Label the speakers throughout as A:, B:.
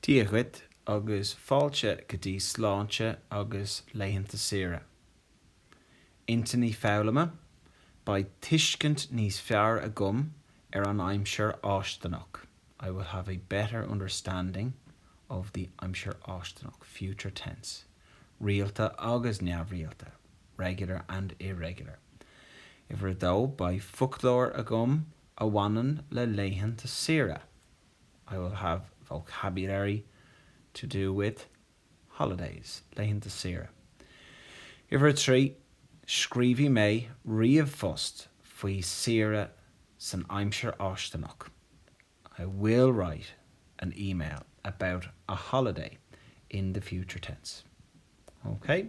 A: Dia dhuit agus fáilte go dtí Sláinte agus Laethanta Saoire. Intinní Foghlama, Beidh tuiscint níos fearr agam ar an aimsir fháistineach, I will have a better understanding of the aimsir fháistineach, future tense, rialta agus neamhrialta, regular and irregular, Uimhir a dó, Beidh foclóir agam a bhaineann le laethanta saoire, I will have vocabulary to do with holidays, laethanta saoire. Uimhir 3, Scríobhfaidh mé ríomhphost faoi saoire san aimsir fháistineach, I will write an email about a holiday in the future tense. OK?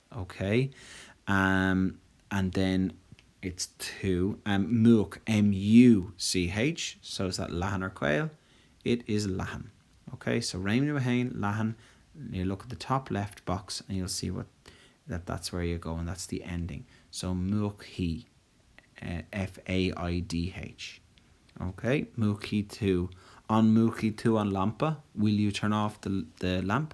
A: OK, um and then it's to um múch, M U C H, so is that leathan or caol? It is leathan. OK, so réimniú 1, leathan, you look at the top left box and you'll see what that that's where you go and that's the ending. So múchfaidh, eh F A I D H. OK, múchfaidh tú, an múchfaidh tú an lampa? Will you turn off the the lamp?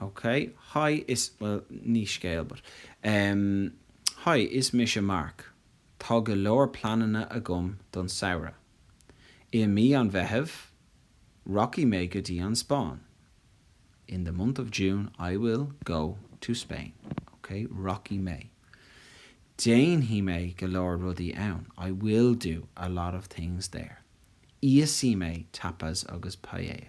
A: ok Hi, is, bhuel, ní scéal but em Hi, is mise Mark. Tá go leor pleananna agam don samhradh. I mí an Mheithimh, rachaidh mé go dtí an Spáinn. In the month of June, I will go to Spain. Ok, rachaidh mé. Déanfaidh mé go leor rudaí ann. I will do a lot of things there. Íosfaidh mé tapas agus paella.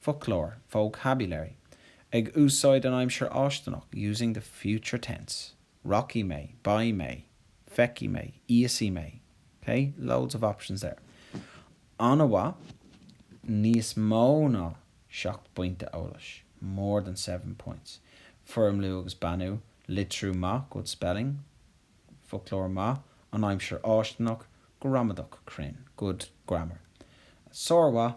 A: Foclóir, vocabulary, Ag úsáid an aimsir fháistineach, using the future tense, Rachaidh mé. Beidh mé. Feicfidh mé. Íosfaidh mé. Ok? Loads of options there. An-mhaith! Níos mó ná seacht bpointe eolais, More than seven points. Foirmliú agus beannú, Litriú maith, good spelling, Foclóir maith, An aimsir fháistineach, Gramadach cruinn, good grammar. Sármhaith!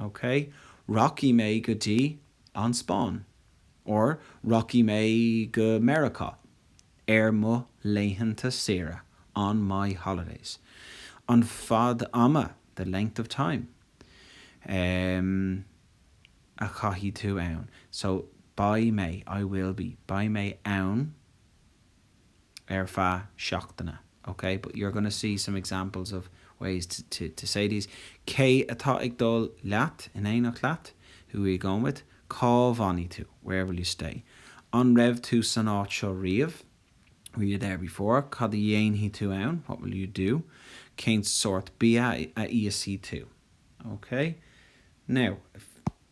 A: OK, rachaidh mé go dtí an Spáinn. Or, rachaidh mé go Meiriceá ar mo laethanta saoire, on my holidays. An fad ama, the length of time, em, a chaithfidh tú ann. So, beidh mé, I will be. Beidh mé ann. ar feadh seachtaine ok but you're going to see some examples of ways to to to say these cé atá ag dul leat, in éineacht leat, who are you going with, cá bhfanfaidh tú, where will you stay, an raibh tú san áit seo riamh, were you there before, cad a dhéanfaidh tú ann, what will you do, cén sórt bia a íosfaidh tú. ok now if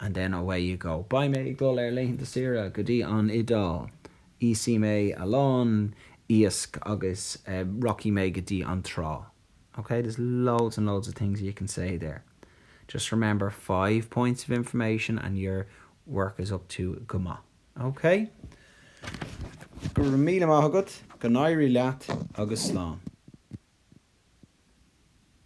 A: and then away you go Beidh mé ag dul ar laethanta saoire go dtí an Iodáil, íosfaidh mé a lán iasc agus rachaidh mé go dtí an trá Ok, there's loads and loads of things you can say there. Just remember five points of information and your work is up to go maith. Ok? Go raibh míle maith agat, go n-éirí leat agus slán.